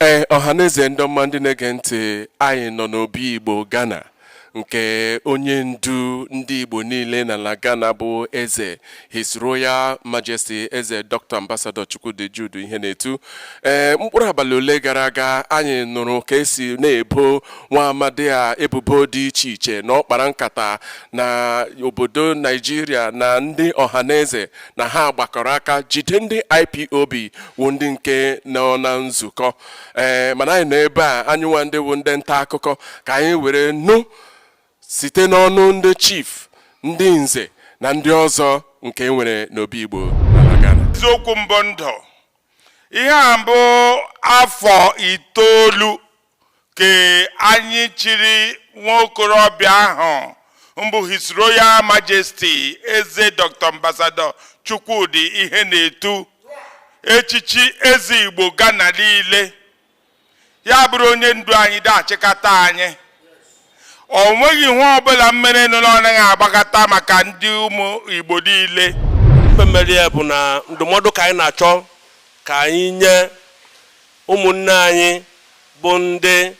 ee ọhaneze ndị ọma ndị na-ege ntị anyị nọ n'obi igbo ghana nke onye ndu ndị igbo niile n'ala ghana bụ eze his royal majesty eze dr ambassador chukwudi jude ihenetu ee mkpụrụ abalị ole gara aga anyị nụrụ ka esi na-ebo nwa amadi a ebubo dị iche iche na ọ kpara nkata na obodo naijiria na ndị ọhaneze na ha gbakọrọ aka jide ndị ipob wụ ndị nke nọ na nzukọ ee eh, mana anyị nọ ebe a anyị nwa ndị wụ ndị nta akụkọ ka anyị were nụ site n'ọnụ ndị chief ndị nze na ndị ọzọ nke e nwere n'obi igbo n'ala ghana eziokwu mbụ ndụ ihe a mbụ afọ itoolu ka anyị chiri nwa okorobịa ahụ mbụ His Royal Majesty Eze Dr. Ambassador Chukwudi Ihenetu echichi eze Igbo Ghana niile ya bụrụ onye ndu anyị da-achịkọta anyị o nweghị ihe ọbụla mmerenụ ọ naghị agbakọta maka ndị ụmụ Igbo niile ife mere ya bụ na ndụmọdụ ka anyị na-achọ ka anyị nye Ụmụnne anyị bụ ndị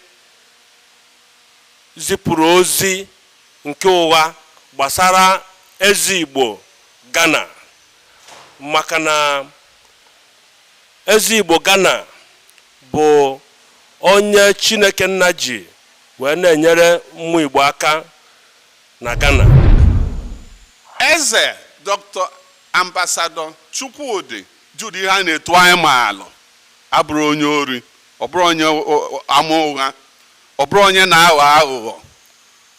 zipụrụ ozi nke ụgha gbasara eze Igbo Ghana maka na eze Igbo Ghana bụ onye Chineke nna ji wee na-enyere ụmụ Igbo aka na Ghana. Eze Dr. Ambassador Chukwudi Jude Ihenetu anyị maalụ abụrọ onye ori ọ bụrọ onye ama ụgha ọ bụrọ onye na-aghọ aghụghọ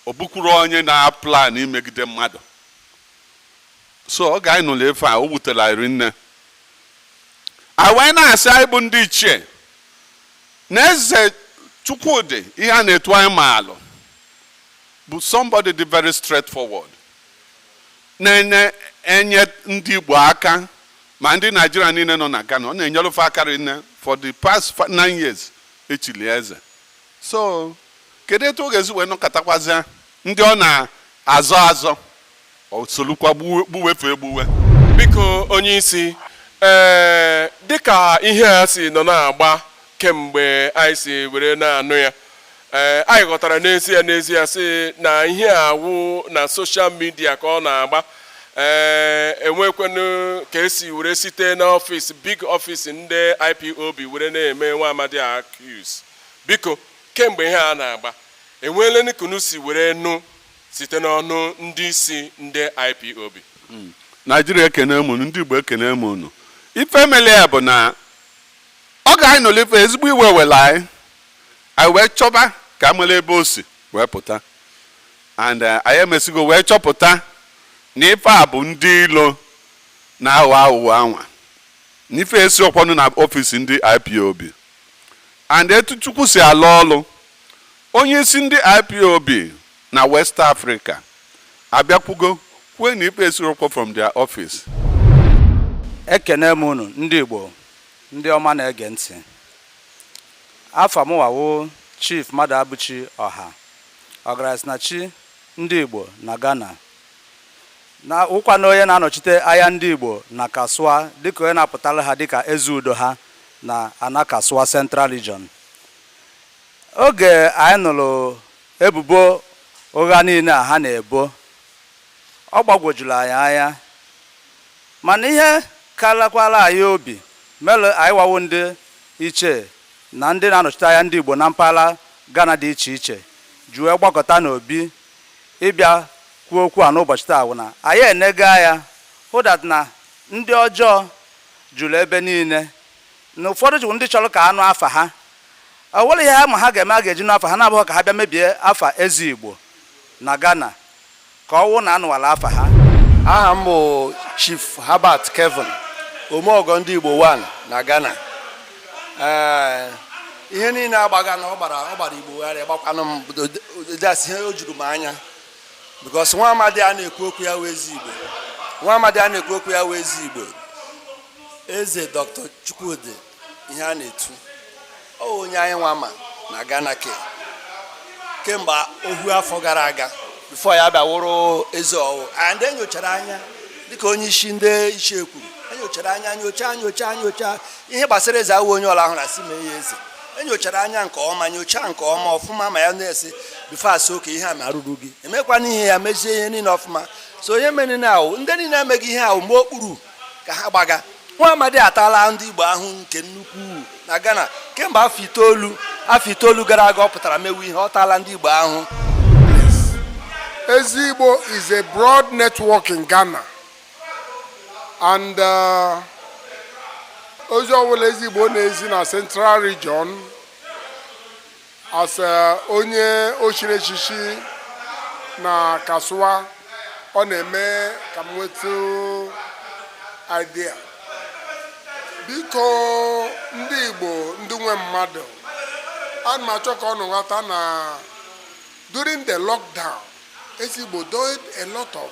ọ bụkwurọ onye na-aplan imegide mmadụ so oge anyị nụlụ ife a o wutelụ anyị rinne anyị wee na-asị anyị bụ ndị ichie na eze chukwudi ihenetu anyị maalụ bụ somebody dị very straightforward na-enye ndị Igbo aka ma ndị Naijiria niile nọ na Ghana ọ na-enyere fe aka rinne for the past nine years echili eze so kedu etu ọ ga-esi wee nọkatakwazịa ndị ọ na-azọ azọ o solukwa gbuwe fe egbuwe biko onye isi ee eh, dịka ihe a si nọ na-agba kemgbe anyị si were na-anụ ya ee eh, anyị ghọtara n'ezie n'ezie sị na ihe a wụ na social media ka ọ na-agba ee eh, enwekwenụ ka esi were site n'ọfịs big office ndị IPOB were na-eme nwa amadi accuse biko kemgbe ihe a na-agba enweela nke unu si were nụ site n'ọnụ ndị isi ndị IPOB hmm. naijiria ekene m unu ndị igbo ekene m unu ife mele ya bụ na oge anyị nụlụ ife ezigbo iwe wela anyị anyị wee chọba ka a mala ebe o si wee pụta and eh, anyị emesigo wee chọpụta na ife a bụ ndị ilo na-aghọ aghụghọ anwa na ife esirọkwanụ na ọfịs ndị ipob and etu chukwu si alụ ọlụ onye isi ndị ipob na west africa abịakwugo kwue na ife esirọkwa from their office ekene m unu ndị igbo ndị ọma na-ege ntị Afa mụnwa wụ Chief Maduabuchi Oha, Ọgarasinachi ndị Igbo na Ghana, na wụkwanụ onye na-anọchite anya ndị Igbo na Kasoa dịka onye na-apụtara ha dịka eze udo ha na ana Kasoa Central Region. Oge anyị nụrụ ebubo ụgha niile a ha na-ebo, ọ gbagwojuru anyị anya. Mana ihe karakwara anyị obi mere anyịnwa wụ ndị ichie na ndị na-anọchite anya ndị Igbo na mpaghara Ghana dị iche iche ji wee gbakọta n'Obi ịbịa kwuo okwu a n'ụbọchị taa wụ na anyị enega anya hụ that na ndị ọjọọ juru ebe niile na ụfọdụ jụrụ ndị chọrọ ka a nụ afa ha o nwere ihe ha ma ha ga-eme a ga-eji nụ afa ha na-abụghị ka ha bịa mebie afa eze Igbo na Ghana ka ọ wụ na anụwala afa ha aha m bụ Chief Herbert Kevin omeọgọ ndị Igbo 1 na Ghana ee ihe niile agbaga na ọ gbara ọ gbara Igbo gharịị gbakwanụ m dasị ihe o juru m anya because nwa amadi a na-ekwu okwu ya wụ eze Igbo nwa amadi a na-ekwu okwu ya wụ eze Igbo eze Dr. Chukwudi Ihenetu ọ wụ onye anyị nwa ma na Ghana ke kemgbe ohu afọ gara aga before ya bịa wụrụ eze ọ wụ and enyochara anya dịka onye isi ndị ichie kwuru enyochara anya nyocha nyocha nyocha ihe gbasara eze awụ onye ọla ahụ na si mee ya eze enyochara anya nke ọma nyocha nke ọma ọfụma ma ya na-esi before a sị okay ihe a marụrụ gị emekwana ihe ya mezie ihe niile ọfụma so ihe mere na awụ ndị niile emega ihe a wụ mgba okpuru ka ha gbaga nwa amadi ataala ndị igbo ahụ nke nnukwu na ghana kemgbe afọ itoolu afọ itoolu gara aga ọ pụtara mewe ihe ọ taala ndị igbo ahụ eze igbo is a broad network in ghana and uh, ozi ọbụla eze igbo na-ezi na central region as onye o chiri echichi na Kasoa ọ na-eme ka m nweta idea biko ndị Igbo ndị nwe mmadụ ana m achọ ka unu ghọta na during the lockdown Eze Igbo did a lot of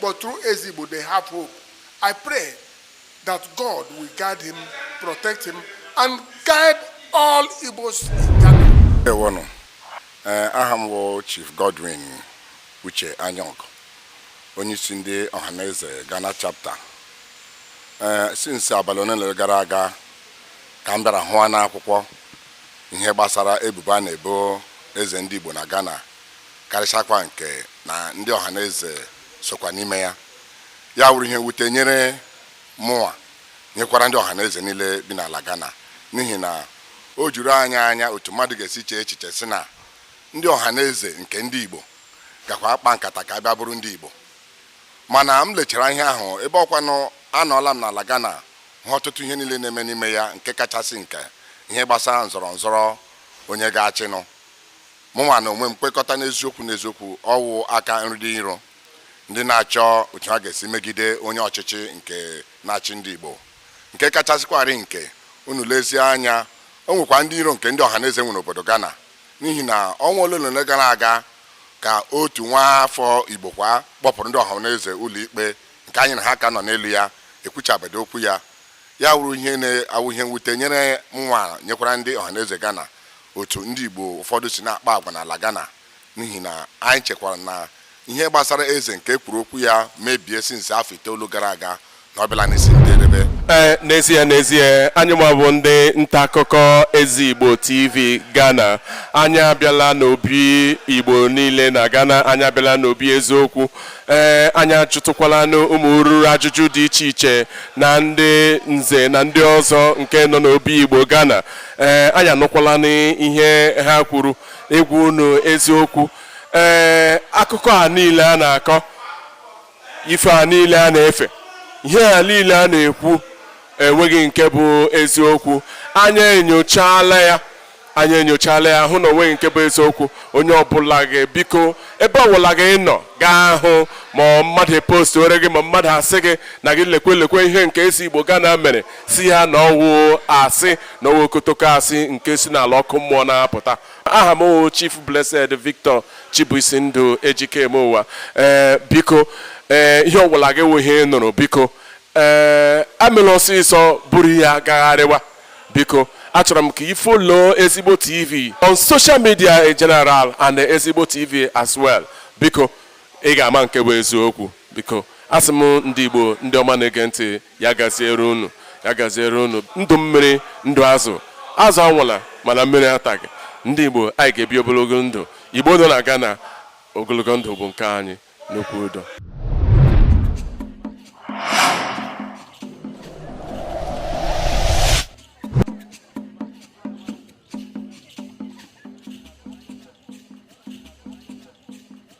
But through Eze Igbo, they have hope. I pray that God will guide him, protect him, and guide all Igbos in Ghana. Ewonu, eh, aha m wụ Chief Godwin Uche Anyong, onyeisi ndị Ọhaneze Ghana chapter. Eh, since abalị ole na ole gara aga ka m bịara hụwa n'akwụkwọ ihe gbasara ebubo a na-ebo eze ndị Igbo na Ghana karịchakwa nke na ndị Ọhaneze sokwa n'ime ya ya wụrụ ihe mwute nyere mụnwa nyekwara ndị Ọhaneze niile bi n'ala Ghana n'ihi na o juru anyị anya otu mmadụ ga-esi chee echiche si na ndị Ọhaneze nke ndị Igbo gakwa akpa nkata ka a bịa buru ndị Igbo mana m lechara ihe ahụ ebe ọkwanụ anọọla m n'ala Ghana hụ ọtụtụ ihe niile na-eme n'ime ya nke kachasị nke ihe gbasara nzọrọ nzọrọ onye ga-achịnụ mụnwa n'onwe m kwekọta n'eziokwu n'eziokwu ọ wụ aka ndị iro ndị na-achọ otu ha ga-esi megide onye ọchịchị nke na-achị ndị Igbo nke kachasịkwarị nke unu lezie anya o nwekwa ndị iro nke ndị ọhaneze nwere obodo Ghana n'ihi na ọnwa ole na ole gara aga ka otu nwa afọ Igbo kwa kpọpụrụ ndị ọhaneze ụlọikpe nke anyị na ha ka nọ n'elu ya ekwuchabedo okwu ya ya wụrụ ihe na-awụ ihe mwute nyere mụnwa nyekwara ndị ọhaneze Ghana otu ndị Igbo ụfọdụ si na-akpa agwa n'ala Ghana n'ihi na anyị chekwara na ihe gbasara eze nke e kwuru okwu ya maybe since afọ itoolu gara aga na ọ bịala n'isi njedebe ee eh, n'ezie n'ezie anyịnwa bụ ndị nta akụkọ Eze Igbo TV Ghana anyị abịala n'obi igbo niile na ghana anyị abịala n'obi eziokwu ee eh, anyị ajụtụkwalanụ ụmụ ruru ajụjụ dị iche iche na ndị nze na ndị ọzọ nke nọ n'obi igbo ghana ee eh, anyị anụkwalanụ ihe ha kwuru ịgwa unu eziokwu ee eh, akụkọ a niile a na-akọ ife a niile a na-efe ihe a niile a na-ekwu enweghị nke bụ eziokwu anyị enyochala ya anyị enyochala ya hụ na o nweghị nke bụ eziokwu onye ọbụla gị biko ebe ọbụla gị nọ gaa hụ ma mmadụ post were gị ma mmadụ asị gị na gị lekwe lekwe ihe nke Eze Igbo Ghana mere sị ya na ọwụ asị na ọwụ okotoko asị nke si n'ala ọkụ mmụọ na-apụta aha m wụ Chief Blessed Victor Chibuisi Ndụ Ejikemeụwa ee biko ee ihe ọwụla gị wụ ihe nụrụ biko ee amela ọsịsọ buru ya gagharịwa biko achọrọ m ka ị follow Eze Igbo tv on social media in general and Eze Igbo tv as well biko ị ga-ama nke wụ eziokwu biko asị m ndị igbo ndị ọma na-ege ntị ya gaziere unu ya gaziere unu ndụ mmiri ndụ azụ azụ anwụla mana mmiri ataghị ndị igbo anyị ga-ebi ogologo ndụ igbo nọ na Ghana ogologo ndụ bụ nke anyị n'okwu udo